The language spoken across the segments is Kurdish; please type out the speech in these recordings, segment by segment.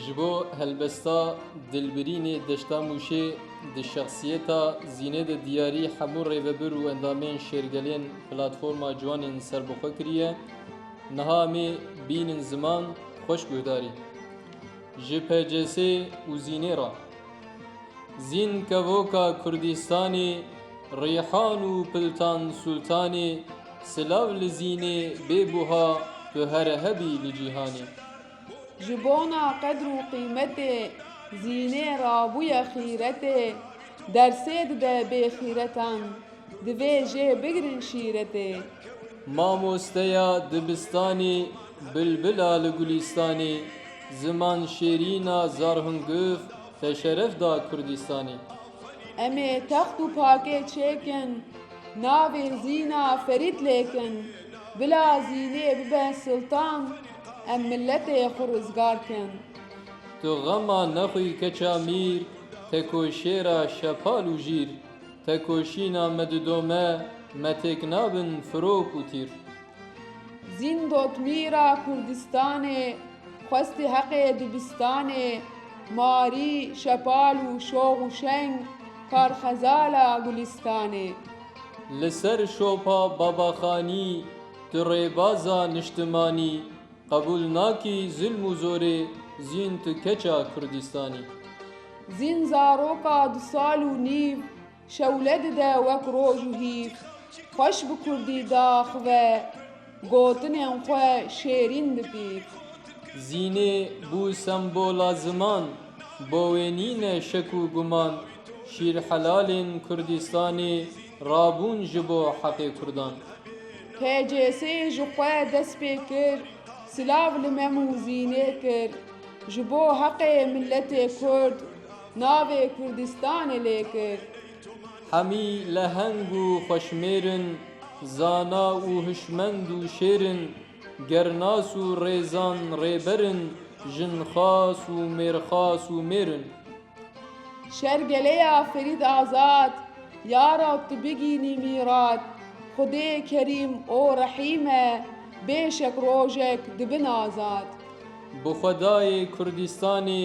Ji bo helbesta Dilbirînê Deşta Mûşê di şexsiyeta Zînê de diyarî hemû rêvebir û endamên şêrgelên Platforma Ciwanên Serbixwe kiriye, Niha em ê bînin ziman xweş guhdarî ji PCSê û Zînê re. Zîn kevoka Kurdistanê Rîhan û Piltan Sultanê Silav li Zînê bê buha tu here hebî li cîhanê. Ji bona qedr û qîmetê, zînê rabûye xîretê, dersê dide bêxîretan, divê jê bigirin şîretê. Mamosteya dibistanê, bilbila li gulîstanê, ziman şêrîna Zarhunguf te şeref da Kurdîstanê. Em ê text û pakê çêkin, navê zîna Ferîd lêkin, bila zînê bibe siltan, Em miletê xwe rizgar kin. Tu xema nexwî keça mîr, tekoşêra şepal û jîr, tekoşîna me di do me, me têk nabin firok û tîr. Zîndot mîra Kurdistanê, xwestî heqê dibistanê, marî, şepal û şox û şeng, kar xezala gulîstanê. Li ser şopa Babaxanî. Tu rêbaza niştimanî qebûl nakî zilm û zorê zîn tu keça Kurdistanî. Zîn zaroka du sal û nîv şewle dide wek roj û hîv. Xweş bi kurdî daxive gotinên xwe şêrîn dipîv. Zînê bû sembola ziman bo wê nîne şek û guman şîrhelalên Kurdistanê. Rabûn ji bo heqê Kurdan. PCS ji xwe dest pê kir, silav li Mem û Zînê kir, ji bo heqê miletê Kurd navê Kurdistanê lê kir. Hemî leheng û xweşmêr in, zana û hişmend û şêr in, gernas û rêzan rêber in, jinxas û mêrxas û mêr in. Şer gelê ya Ferîd Azad ya ra tu bigînî mîrat, Xwedê kerîm û rehîm e, bê şek rojek dibin azad. Bi xwedayê Kurdistanê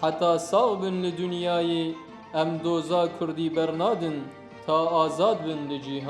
heta sax bin li dinyayê em doza Kurdî bernadin ta azad bin li cîhanê.